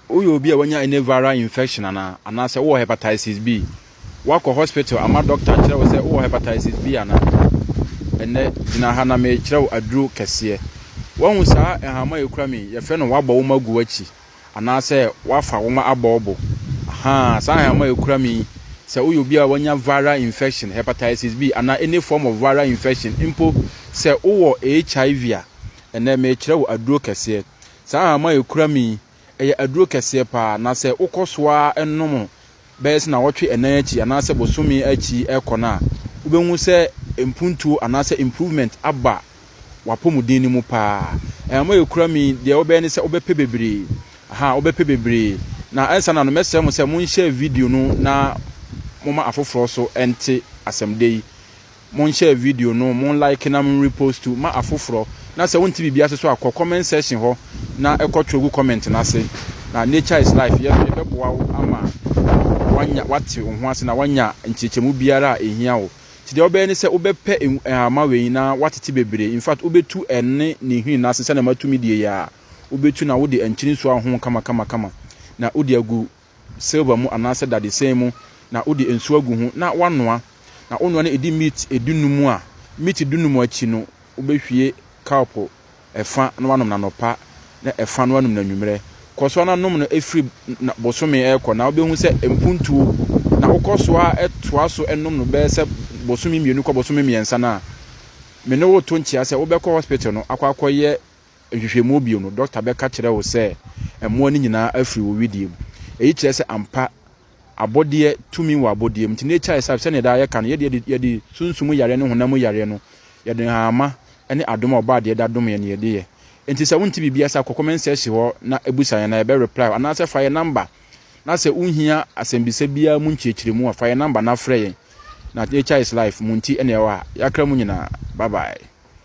Woyɛ obi a wanya any viral infection anaa? Anaasɛ wowɔ hepatitis B? Woakɔ hospital ama dɔkta akyerɛ wo sɛ wowɔ hepatitis B anaa? Ɛnnɛ, gyina ha na merekyerɛ wo aduro kɛseɛ. Woahu saa nhama a ɛkura me yi? Yɛfrɛ no woabɔ woma gu w'akyi anaasɛ woafa woma abɔ wo bo. Ahaa, saa nhama a ɛkura me yi, sɛ woyɛ obi a wanya viral infection, hepatitis B anaa any form of viral infection, mpo sɛ wowɔ HIV a, ɛnnɛ merekyerɛ wo aduro kɛseɛ. Saa ahama a ɛkura me yi, ɛyɛ aduro kɛseɛ pa ara, na sɛ wokɔ so ara nom bɛyɛ sɛ nnawɔtwe nnan akyi anaasɛ bosome akyi rekɔ no a, wobɛhu sɛ mpuntuo anaasɛ improvement aba w'apɔmuden no mu pa ara. Ahama a ɛkura me yi, deɛ wobɛyɛ ne sɛ wobɛpɛ bebree, aha, wobɛpɛ bebree. Na ansa na anom, mɛsrɛ mo sɛ monhyɛ video no na momma afoforɔ nso nte asɛmdɛ yi. Mon share video no, mon like na mon repostu ma afoforɔ. Na sɛ wonte biribi ase so a kɔ comment section hɔ na kɔ twerɛ gu comment no ase. Na nature is life yɛ nso yɛbɛboa wo ama woanya woate wo ho ase na woanya nkyerɛkyerɛmu biara a ɛhia wo. Nti deɛ wobɛyɛ ne sɛ wobɛpɛ nhoma wei na woatete bebree. In fact wobɛtu ɛne ne nhini no ase sɛdeɛ matumi deɛ yi a wobɛtu na wode nkyene nsuo ahohoro kama kama kama na wode agu silver mu anaasɛ dadesɛn mu na wode nsu agu ho na woanoa. Na wonoa no ɛdi meat dunum a, meat dunum akyi no wobɛhwie cup ɛfa na woanom no anɔpa na ɛfa na woanom no anwummerɛ. Kɔ so ara nom no firi bosome rekɔ na wobɛhu sɛ mpuntuo. Na wokɔ so ara toa so nom no bɛyɛ sɛ bosome mmienu kɔ bosome mmiɛnsa no a, me ne wo reto nkyea sɛ wobɛkɔ hospital no akɔ akɔyɛ nhwehwɛmu bio no, dɔkta bɛka kyerɛ wo sɛ mmoa no nyinaa afiri wo wedeɛ mu. Eyi kyerɛ sɛ ampa abɔdeɛ tumi wɔ abɔdeɛ mu. Nti na ɛkyɛre sɛ, sɛdeɛ daa yɛka no, yɛdeɛ yɛde sunsum yareɛ ne honam mu yareɛ no, yɛde nhahamma ne adom a Ɔbɔadeɛ da dom yɛn na yɛde yɛ. Nti sɛ wonte biribi ase a, kɔ comment section hɔ na bisa yɛn na yɛbɛ reply wo anaasɛ fa yɛn number na sɛ wohia asɛmbisa biara mu nkyerɛkyerɛmu a, fa yɛn number na frɛ yɛn. Na nature is life, mo nti na yɛwɔ ha. Yɛakra mu nyinaa. Bye bye.